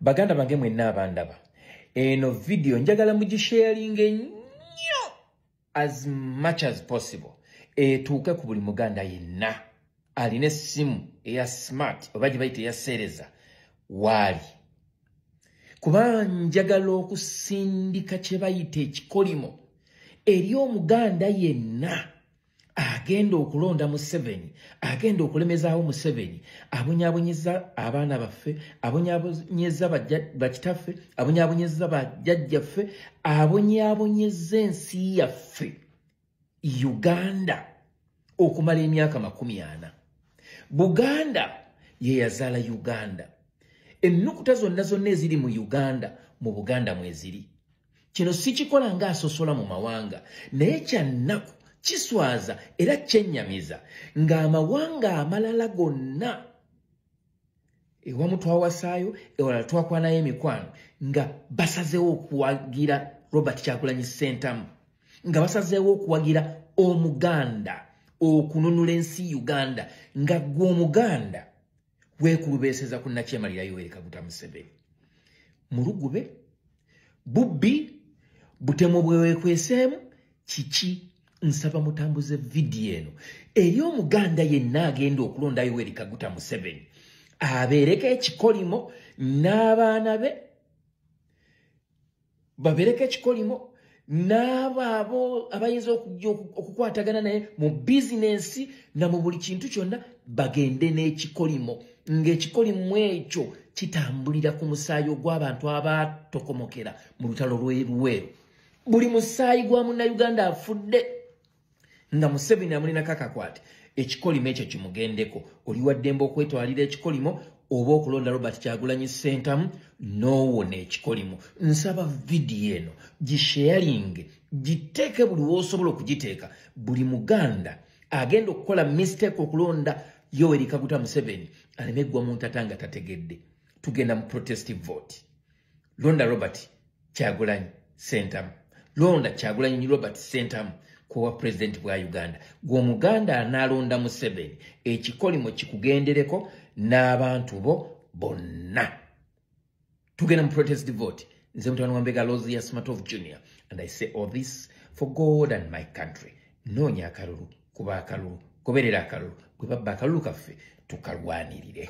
baganda bange mwenna abandaba eno vidiyo njagala mugisharinga ennyo as much as possible etuuke ku buli muganda yenna alina essimu eya smart oba gye bayita eyaseereza waali kuba njagala okusindika kye bayita ekikolimo eri omuganda yenna agenda okulonda museveni agenda okulemezaawo museveni abonyabonyeza abaana baffe abonyabonyeza bakitaffe abonyabonyeza bajajjaffe abonyabonyeza ensi yaffe uganda okumala emyaka makumi ana buganda yeyazaala uganda ennukuta zonna zonna eziri mu uganda mu buganda mweziri kino sikikola nga asosola mu mawanga naye kyannaku kiswaza era kyennyamiza ng'amawanga amalala gonna ewamu twawasaayo ewalala twakwanayo emikwano nga basazeewo okuwagira robert kyakulanyi sentamu nga basazeewo okuwagira omuganda okununula ensi uganda nga gwe omuganda wekulubeeseza ku nakyemalira yoweri kaguta museveni mulugube bubbi butemu bwewekweseemu kiki nsaba mutambuze vidiyo eno eri omuganda yenna agenda okulonda yoweri kaguta museveni abeereko ekikolimo n'abaana be babereko ekikolimo n'abo abo abayinza okujja okukwatagana naye mu bizinensi na mu buli kintu kyonna bagende n'ekikolimo ng'ekikolimo ekyo kitambulira ku musaayi ogw'abantu abaatokomokera mu lutalo lw'eruweero buli musaayi gwa munnayuganda afudde nga museveni amulinako akakwate ekikolimo ekyo kimugendeko oli waddembe okwetwalira ekikolimo oba okulonda robert kyagulanyi sentamu nowona ekikolimo nsaba vidiyo eno gisheyalinge giteeke buli wosobola okugiteeka buli muganda agenda okukola mistake okulonda yowerikaguta museveni aleme eggwa mu ntata nga tategedde tugenda mu protestive vote londa robert kyagulanyi sentamu londa kyagulanyi robert sentamu kuwa pulezidenti bwa uganda gwe omuganda anaalonda museveni ekikolimo kikugendereko n'abantu bo bonna tugenda mu protest vote nze mutano wambega lozi ya smart of junior and i say all this for god and my country noonya akalulu kuba akalulu goberera akalulu bwe babba akalulu kaffe tukalwanirire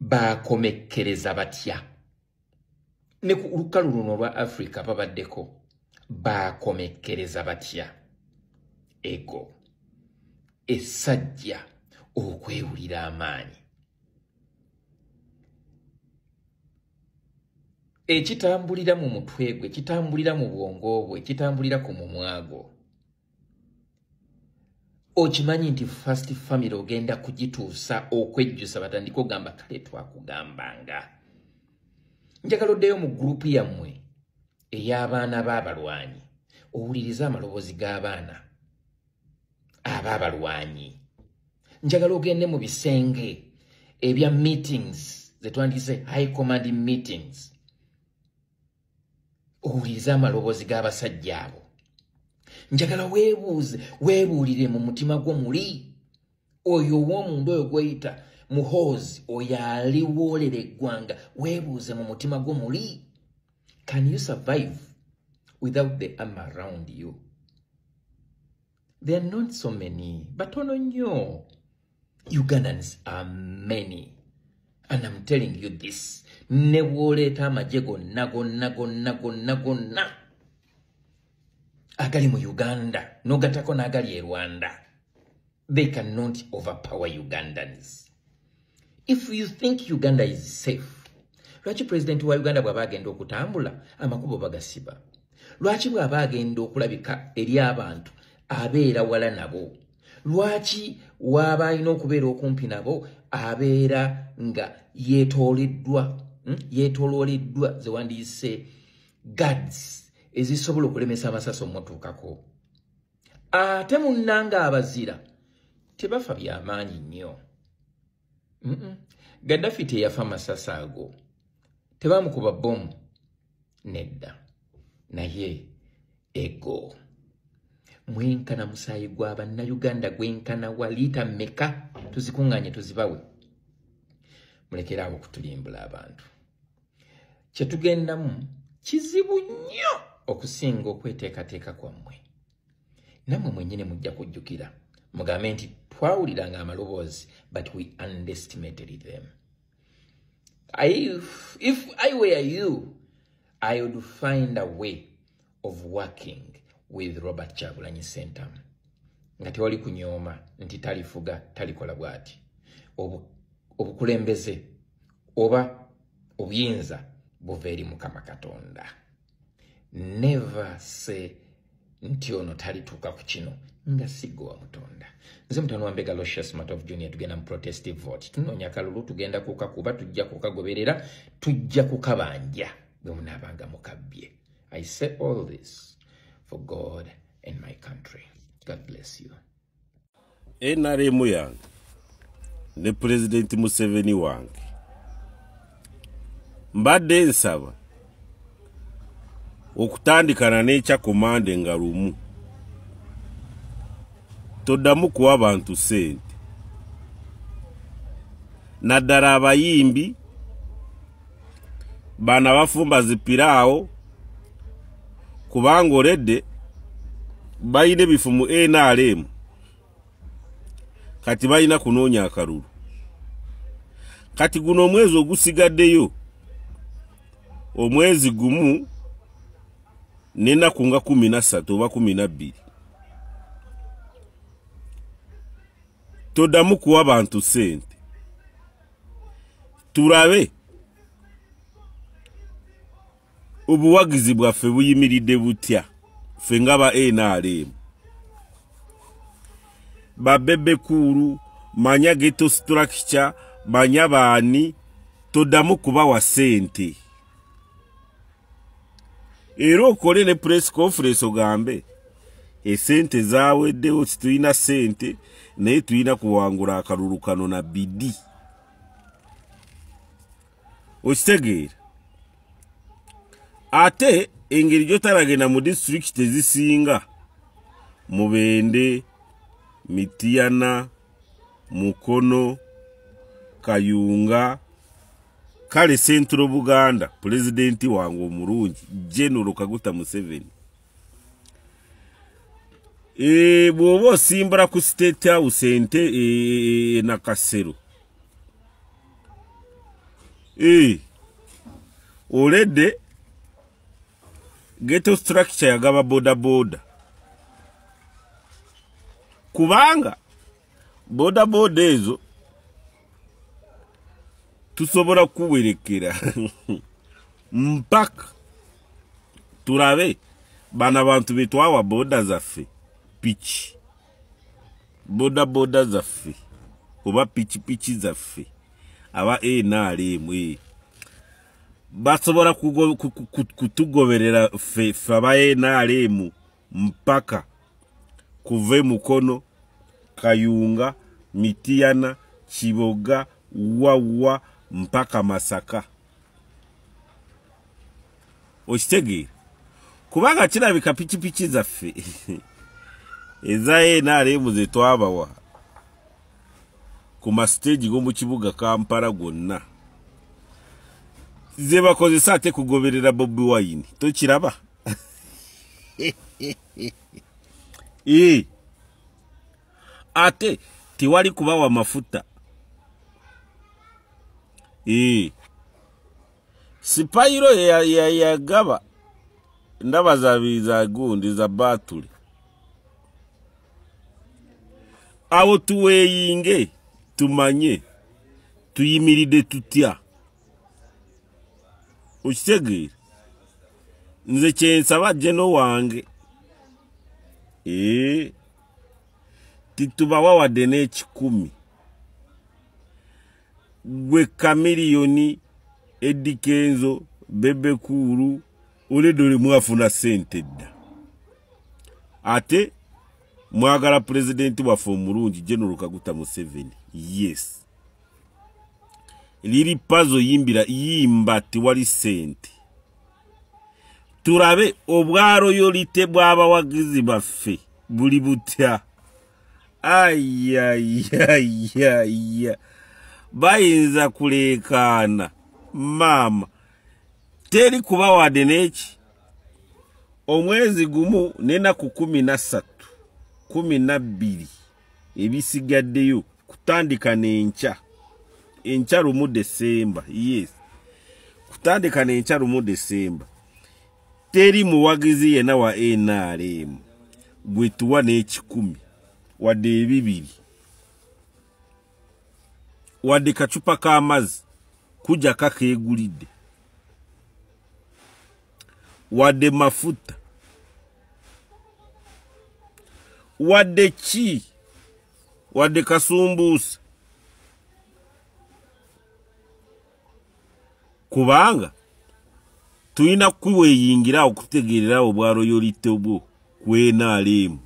baakomekkereza batya ne ku lukalu luno olwa afrika babaddeko baakomekkereza batya ego essajja okwewulira amaanyi ekitambulira mu mutwe gwe kitambulira mu bwongo bwe kitambulira ku mumwagwo okimanyi nti first family ogenda kugituusa okwejjusa batandika ogamba kale twakugambanga njagala oddeyo mu gurupu yammwe ey'abaana b'abalwanyi owulirize amaloboozi g'abaana ab'abalwanyi njagala ogende mu bisenge ebya meetings zetwandise high command meetings owuliriza amaloboozi g'abasajja abo njagala weebuuze weebuulire mu mutima gwo muli oyo ow'omunda oyo gweyita muhoozi oyo aliwoolera eggwanga weebuuze mu mutima gwo muli can you survive without the am around you There are not so many, but ono nnyo. Ugandans are many. And I'm telling you this. Ne bw'oleeta amagye gonna gonna gonna gonna gonna agali mu Uganda n'ogattako n'agali e Rwanda. They cannot overpower Ugandans. if you think uganda is safe lwaki pulezidenti wa uganda bw'aba agenda okutambula amakubo bagasiba lwaki bw'aba agenda okulabika eri abantu abeera wala nabo lwaki waaba alina okubeera okumpi nabo abeera nga yetooleddwa hmm? yetolooleddwa ze wandiyise gads ezisobola okulemesa amasasi omutuukako ate munnanga abazira tebafa byamaanyi nnyo gaddafi teyafa masasi ago tebamukuba bomu nedda naye ego mwenkana musaayi gwa bannayuganda gwenkana wa liita meka tuzikuŋŋaanye tuzibawe mulekeraawo okutulimbula abantu kye tugendamu kizibu nnyo okusinga okweteekateeka kwammwe nammwe mwennyini mujja kujjukira mugambe nti twawulira nga amaloboozi but we underestimated them if, if i were you i would find a way of working with robert kyagulanyi sentam nga tewali kunyooma nti talifuga talikola bwati obukulembeze oba obuyinza buva eri mukama katonda never say nti ono talituuka ku kino nga siggo wa mutonda nze mutano wambega locious mat of junior tugenda mu protestive vote tunoonya kalulu tugenda kukakuba tujja kukagoberera tujja kukabanja bwemunaabanga mukabbye I say all this for God and my country. God bless you. NRM yange ne President Museveni wange mbadde nsaba okutandikana n'ekya komande nga lumu toddamu kuwa bantu ssente naddala abayimbi bana bafumba zipiraawo kubanga oledde balina ebifu mu nrm kati balina kunoonya akalulu kati guno omwezi ogusigaddeyo omwezi gumu nenaku nga kumi nassatu oba kumi nabbiri todamu kuwa bantu sente tulabe obuwagizi bwaffe buyimiridde butya ffe nga ba nrm babebekuulu manya geto structure manya baani todamu kubawa sente era okole ne press conference ogambe esente zaweddewo situlina sente naye tulina kuwangula akalulu kano na bidi okitegeera ate engeri gyotalagenda mu district ezisinga mubende mitiyana mukono kayunga kale central buganda pulezidenti wange omulungi genero kaguta museveni e, bw'oba osimbula ku state house ente e, e, e nakasero e, olede geto structure yagaba bodaboda kubanga bodaboda ezo tusobola kuwerekera mpaka turabe bana bantu betwawa boda zaffe piki boda boda zaffe oba piki piki zaffe aba nrm e. basobola kutugoberera ffe aba nrm mpaka kuva e mukono kayunga mitiyana kiboga wawa mpaka masaka okitegeera kubanga kirabika pikipiki zaffe eza nrm zetwabawa ku masiteegi g'omu kibuga kampala gonna zebakozesa ate kugoberera bobi wine tokiraba ee ate tewali kubawa mafuta ee sipayiro yeyagaba ya, ya ndaba za gundi za batuli awo tuweeyinge tumanye tuyimiride tutya okitegeera nze kyensaba jeno wange ee eh, titubawa wadde n'ekikumi gwe kamiliyoni edikenzo bebekuulu oledde oli mwafuna sente dda ate mwagala pulezidenti waffe omulungi general kaguta museveni yes liri pazo yimbira yimba tiwali sente turabe obwaroyolite bw'abawagizi baffe buli butya ayayayaya bayinza kuleekaana maama teri kuba wade neki omwezi gumu nenaku kumi nassatu kumi nabbiri ebisigaddeyo kutandika n'enkya enkya lumu desemba yes kutandika n'enkya lumu desemba teri muwagizi yena wa nrm gwetuwa n'ekikumi wadde ebibiri wadde kacupa k'amazzi kujja kakeegulidde wadde mafuta wadde ki wadde kasumbuusa kubanga tulina kuweyingira okutegeerera obwa royolite bwo ku nrm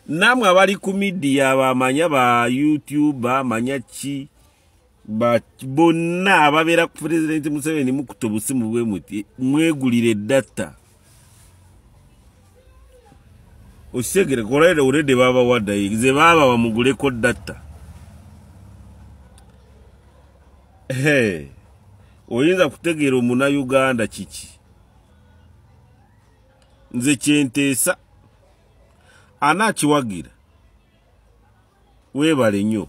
namwe abali ku midiya bamanya ba youtube bamanya ki bonna ababeera ku pulezidenti museveni mukuta obusimu bwe muti mwegulire edatta okitegeere kolaire olede babawaddayi ze baaba bamuguleko datta oyinza kutegeera omuna uganda kiki nze kyenteesa anaakiwagira weebale nnyo